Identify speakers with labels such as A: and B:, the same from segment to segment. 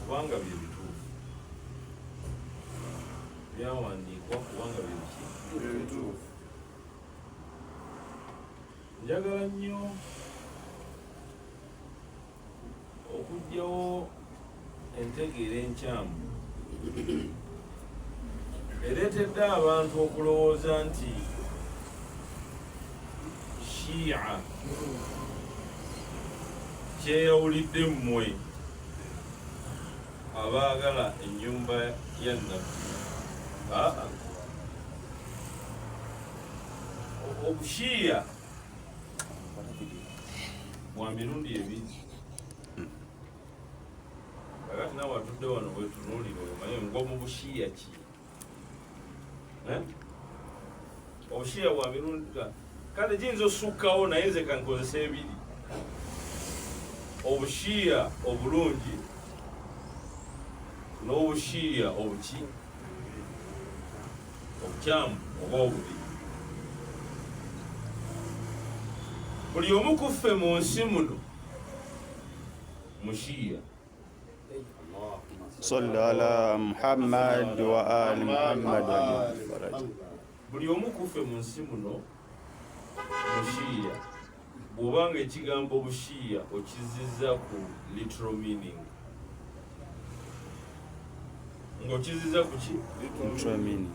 A: kubanga bye bituufu byawandiikwa kubanga bye biki bye bituufu njagala nnyo okugyawo entegeera enkyamu ereetedde abantu okulowooza nti shiia kyeyawulidde mmwe abaagala ennyumba ya nabbi obushiiya bwa mirundi ebiri kakati nawe atudde wano wetunuulira oyo maye ngomu bushiya ki eh? obushiya bwa mirundi kale giyinza osukkawo naye nze kankozesa ebiri obushiya obulungi n'obushiya obuki obukyamu oba obubi buli omu kuffe mu nsi muno Mushia.
B: Salli ala Muhammad wa ali Muhammad
A: buli omu kuffe mu nsi muno mushiya bw'oba nga ekigambo bushiya okizizza ku literal meaning ng'okizizza ku ki literal meaning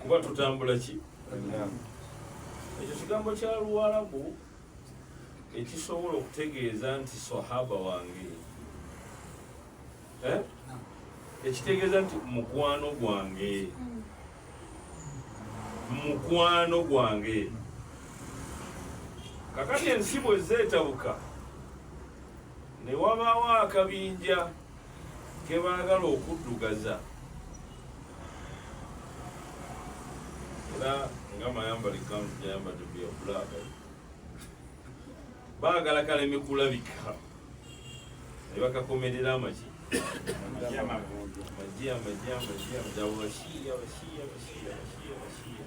A: kuba tutambula ki ekyo kigambo kya luwalabu ekisobola okutegeeza nti sahaba wange eh? ekitegeeza nti mukwano gwange mukwano gwange kakati ensi bwe zeetabuka ne wabaawo akabinja kebaagala okuddugaza era nga mayambali kanzu gyayambadde bya black baagala kaleme kulabika ne bakakomerera amaki amagi amagi amagi amagi abashiya abashiya abashiya abashiya abashiya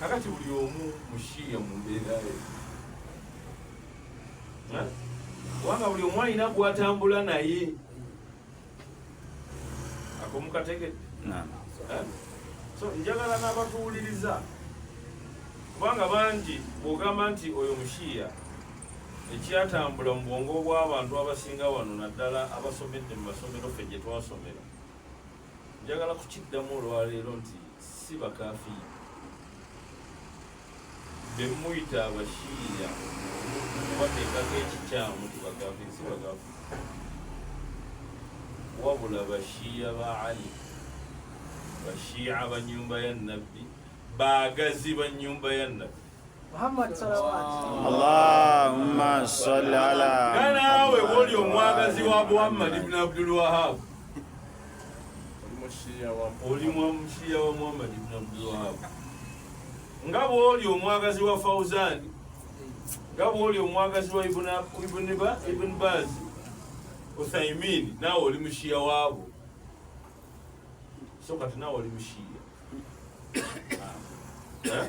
A: kakati buli omu mushiya mu mbeera ye kubanga buli omu alina gwatambula naye akomukategede so njagala n'abatuwuliriza kubanga bangi bwogamba nti oyo mushiya ekyatambula mu bwongo bw'abantu abasinga wano naddala abasomedde mu masomero fe gye twasomera njagala kukiddamu olwaleero nti si bakafiiri bemuyita abashiiya bateekako ekikyamu ti bakafiiri si bakafiiri wabula bashiiya ba ali bashiiya banyumba ya nabbi baagazi banyumba ya nabbi
C: Muhammad
B: sallallahu Allahumma salli ala Nanawe woli
A: omwagazi wa Muhammad ibn Abdul Wahhab oli mwamushiya wa Muhammad ibn Abdul Wahhab nga bwoli omwagazi wa Fauzan nga bwoli omwagazi wa Ibn Ibn Ba Ibn Baz Uthaymin nawe oli mushiya wabo so kati nawe oli mushiya eh?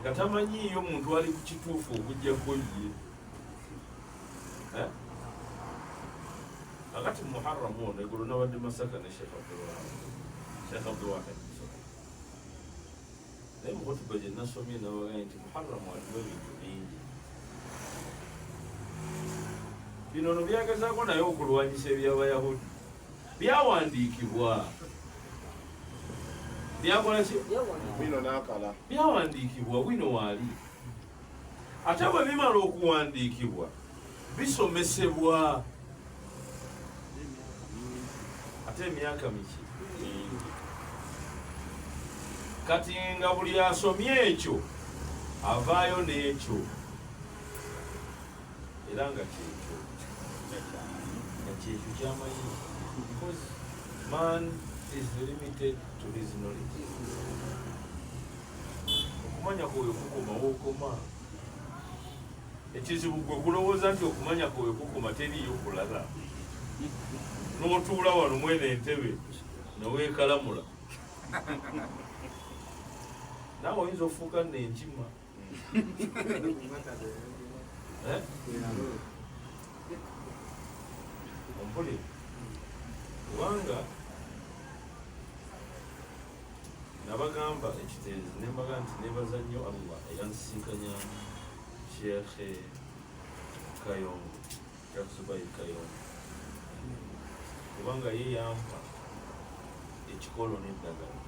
A: nga tamanyiiyo muntu ali ku kituufu okujjako ye akati eh? muharamu ono egolo nabadde masaka ne shekh abdulwahab shekh abdulwahab naye mukutuba gye nasomye nabagambye nti muharamu alimu ebintu bingi bino no byagezako naye okulwanyisa ebyabayahudi byawandiikibwa byakola ki bino nakala
D: byawandiikibwa
A: wino waali ate bwe bimala okuwandiikibwa bisomesebwa ate emyaka miki kati nga buli asomye ekyo avaayo n'ekyo era nga kyekyo nga kyekyo kyamanyi because man is limited to his knowledge okumanya kwoyo kukoma wokoma ekizibu gwe kulowooza nti okumanya kwoyo kukoma teriyo kulala notuula wano mwene entebe newekalamula nawe oyinza ofuuka nenkima ompuli kubanga nabagamba ekiteezi nembaga nti nebaza nnyo allah eyansisinkanya sheekhe kayongo kubanga ye yampa ekikolo n'eddagala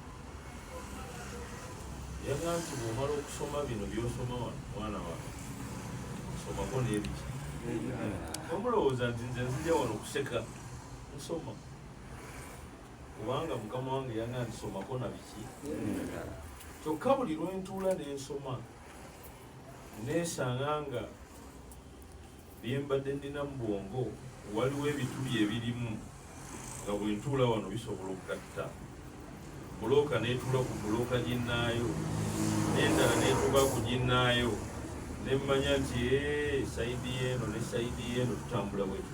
A: yaga nti bwomala okusoma bino byosoma wano mwana wange nsomako n'ebiki omulowooza nti nze nzija wano okuseka nsoma kubanga mukama wange yaga nti somako na biki kyokka buli lwentuula nensoma nesanga nga Bye mbadde nnina mu bwongo waliwo ebituli ebirimu nga bwe ntuula wano bisobola okugatta bbulooka n'etuula ku bbulooka ginnaayo n'endala n'etuuka ku ginnaayo ne mmanya nti sayidi y'eno ne sayidi y'eno tutambula bwetu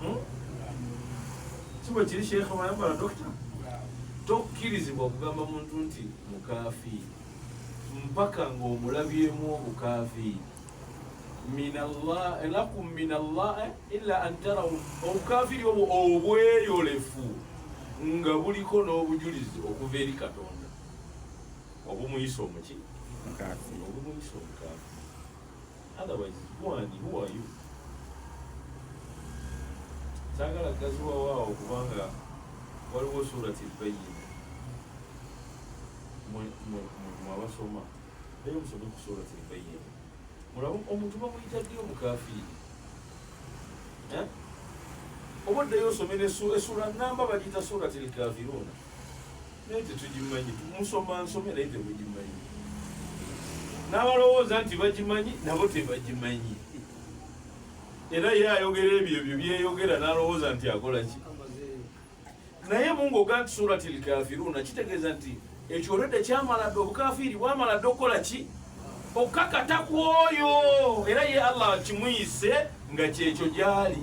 A: hmm? kibwe kiri sheikha wayambala dokita tokkirizibwa okugamba muntu nti mukafi mpaka ng'omulabyemu obukafi lakum min allah eh, ila an tarau obukafiri obwo obweyolefu nga buliko n'obujulizi okuva eri katonda obumuyisa omuki obumuyisa omukafi Otherwise, who are you? Who are you? saagala gaziwa waawo kubanga waliwo surati bayina mwabasoma naye musome ku surati bayina mulaba omuntu bamuyita ddi omukafiiri eh? oba oddayo osome esura namba bagiyita surati lkafiruuna naye tetugimanyi musoma nsome naye temugimanyi n'abalowooza nti bagimanyi nabo tebagimanyi era ye ayogera ebyo ebyo byeyogera n'alowooza nti akola ki naye mungoga nti surati lkafiruuna kitegeeza nti ekyo olwedde kyamala dde obukafiiri bwamala dde okukola ki okukakata ku oyo era ye allah kimuyise nga kyekyo gyali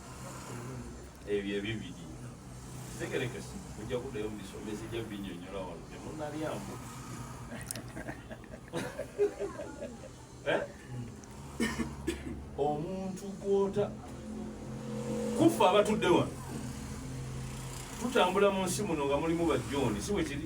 A: ebyo ebibiri tegerekese ojja kuddayo mu bisomesa ejja binyonyola wano temunalyamu eh? omuntu gwota kuffe abatudde wano tutambula mu nsi muno nga mulimu bajjooni si bwe kiri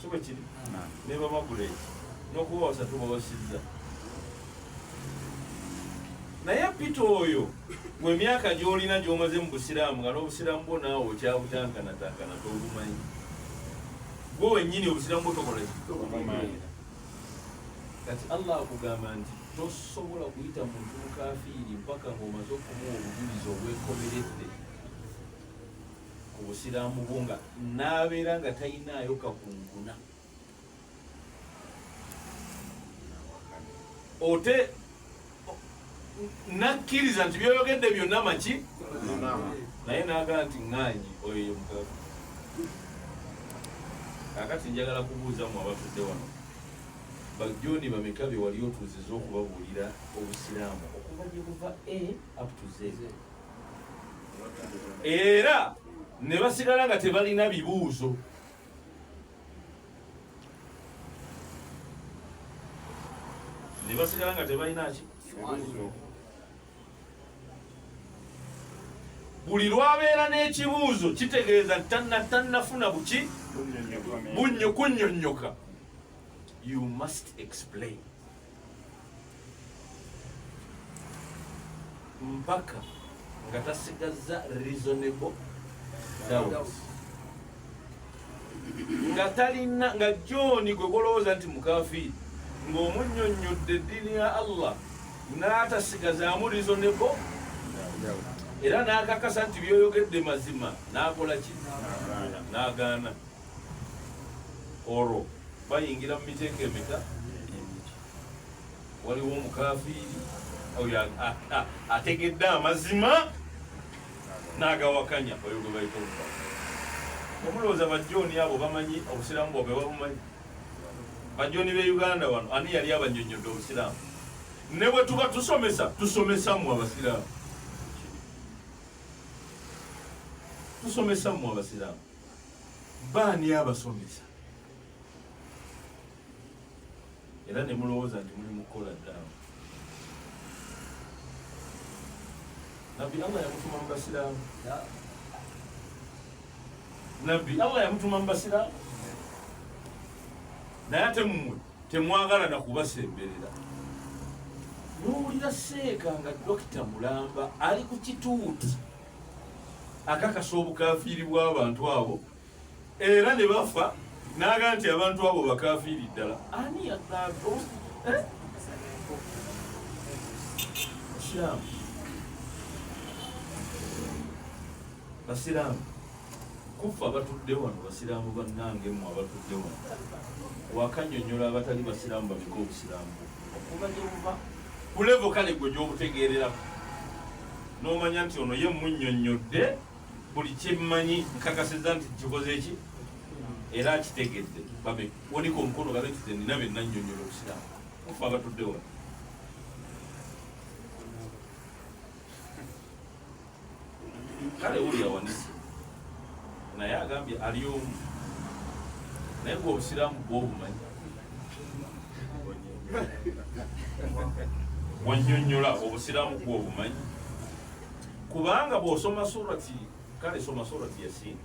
A: si bwe kiri ne bababuleeki n'okubawosa tubawasizza naye pita oyo mu emyaka gy'olina gy'omaze mu busiraamu nga n'obusiraamu bwo naawe okyabutankanatakana tobumanyi gwe wennyini obusiraamu bwo tokola kitobumanira kati allah akugamba nti tosobola kuyita muntu mukafiiri mpaka ng'omaze okumuwa obujulizi obwekomeredde ku busiraamu bwo nga n'abeera nga talinaayo kakunkuna ote nakkiriza nti byoyogedde byonna maki naye nagamba nti ŋŋanyi oyo ye mukazi kakati njagala kubuuza mu abatudde wano bajoni bameka be wali otuuziza okubabuulira obusiraamu okuva gye buva a aptuze era ne basigala nga tebalina bibuuzo ne basigala nga tebalina ki buli lwabeera n'ekibuuzo kitegeeza tannafuna buki bunyo kunyonyoka you must explain mpaka nga tasigazza reasonable doubt nga talina nga jooni gwe golowooza nti mukafiiri ng'omunyonnyodde eddiini ya allah n'atasigazaamu reasonable era n'akakasa nti byoyogedde mazima n'akola ki n'agaana olwo bayingira mu miteeko emeka waliwo omukafiiri oyo ategedde amazima n'agawakanya oyo gwe bayita omuka omulowooza bajjooni abo bamanyi obusiraamu bwabwe babumanyi bajjooni b'e uganda wano ani yali abanyonyodde obusiraamu ne bwe tuba tusomesa tusomesa mu abasiraamu tusomesa mu abasiraamu baani abasomesa era ne mulowooza nti muli mukukola ddaawa nabbi allah yamutuma mu basiraamu nabbi allah yamutuma mu basiraamu naye ate mumwe temwagala na kubasemberera nowulira seeka nga dokita mulamba ali ku kituuti akakasa obukafiiri bw'abantu abo era ne bafa n'aga nti abantu abo bakafiiri ddala ani yadaago eh? basiraamu basiraamu kuffe abatudde wano basiraamu bannange mu abatudde wano wakanyonyola abatali basiraamu babika obusiraamu okuva gye buva ku levo kale gwe gy'obutegeereramu n'omanya nti ono ye munnyonnyodde buli kyemmanyi nkakasiza nti kikoze ki era akitegedde babe wonika omukono gabe nti zenina bye nannyonnyola obusiraamu ofa abatudde wano kale uli yawanise naye agambye ali omu naye gwe obusiraamu bwobumanyi wanyonyola obusiraamu bwobumanyi kubanga bwosoma surati kale soma surati yasiini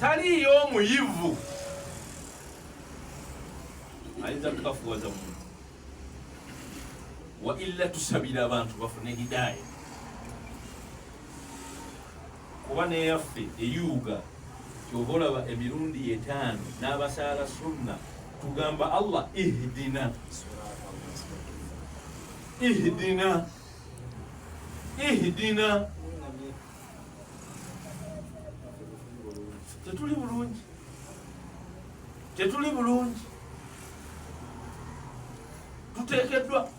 A: taliyo omuyivu ayinza kukafuwaza muntu waila tusabira abantu bafune hidaaya kuba neyaffe eyuuga kyova olaba emirundi etaano n'abasaala sunna tugamba allah ihdina ihdina ihdina tetuli bulungi tetuli bulungi tuteekeddwa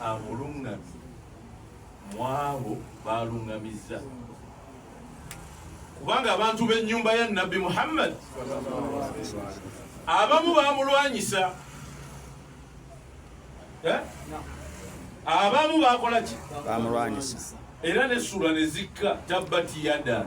A: amulungamye mwabo balungamizza kubanga abantu b'ennyumba ya nabbi muhammad abamu bamulwanyisa eh? abamu bakola ki bamulwanyisa
B: era nesula
A: nezikka tabbati yada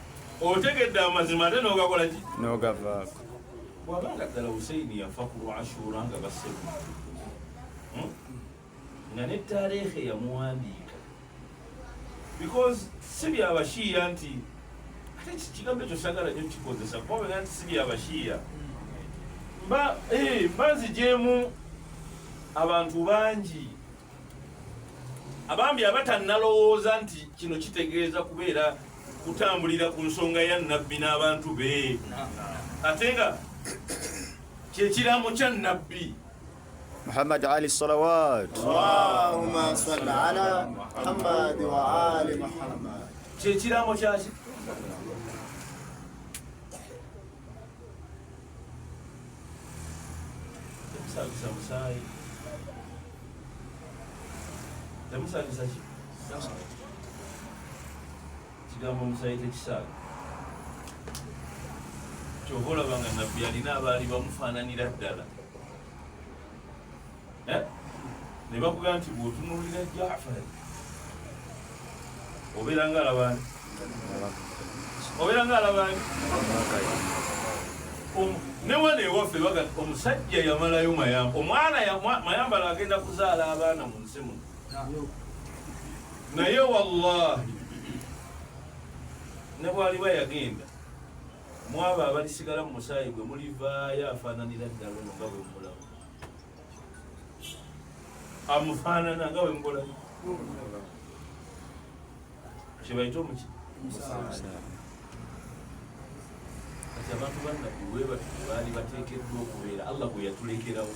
A: otegedde amazima ate nogakola ki nogavaako
B: bwabanga
A: ddala huseini yafa ku lwashuura nga bassemu hmm? nga ne tareekha yamuwandiika because si byabashiiya nti ate kigambo ekyo sagala nyo kikozesa kubabega nti si byabashiiya mba eh, nzijemu abantu bangi abambi abatannalowooza nti kino kitegeeza kubeera kutambulira ku nsonga ya nabbi n'abantu be ate nga kyekiramu kya nabbi muhammad
B: ali salawat
E: kyekiramu
A: kyaki Temusabisa musaayi. Temusabisa ki? Kigambo musaayi tekisaaga. Kyova olaba nga nabbi alina abaali bamufaananira ddala. eh? ne bakugamba nti bwotunulira jafari obeera nga alabani obeera nga alabani newano ewaffe baga omusajja yamalayo mayamba omwana mayambala agenda kuzaala abaana mu nsi muno naye wallahi nebwaliba yagenda mwabo abalisigala mu musaayi gwe mulivaayo afaananira ddala ono nga bwemulamu amufaanana nga wembola kyebaita omuki kati abantu bannabbi webati baali bateekeddwa okubeera allah gwe yatulekerawo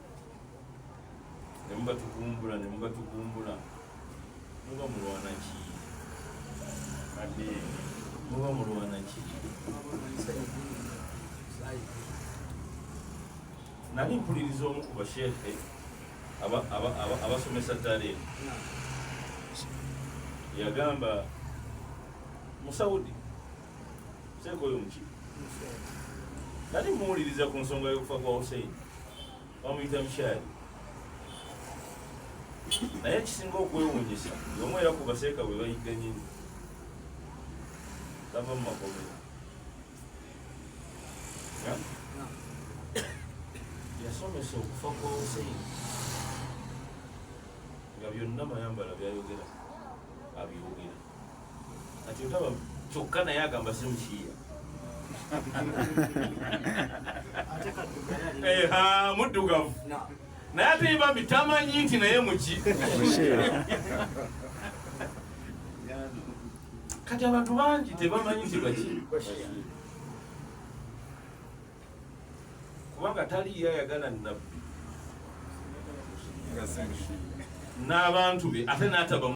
A: ne muba tugumbula ne muba tugumbula muba mulwana ki ade muba mulwana ki nali mpuliriza omu ku basheekhe abasomesa tale yagamba musaudi sekoyo muki nali muwuliriza ku nsonga y'okufa kwa hussein bamuyita mukyali naye ekisinga okwewunyisa yomu era ku baseeka bwe bayigga nyini tava mu makomera yasomesa okufa kwa hussein nga byonna mayambala byayogera abyogera Ati otaba kyokka naye agamba si mukiiya. Eh, ha muddugavu. Naye ate ye bambi tamanyi nti naye muki. Kati abantu bangi tebamanyi nti baki. Kubanga tali ye ayagala nabbi. N'abantu be ate n'ataba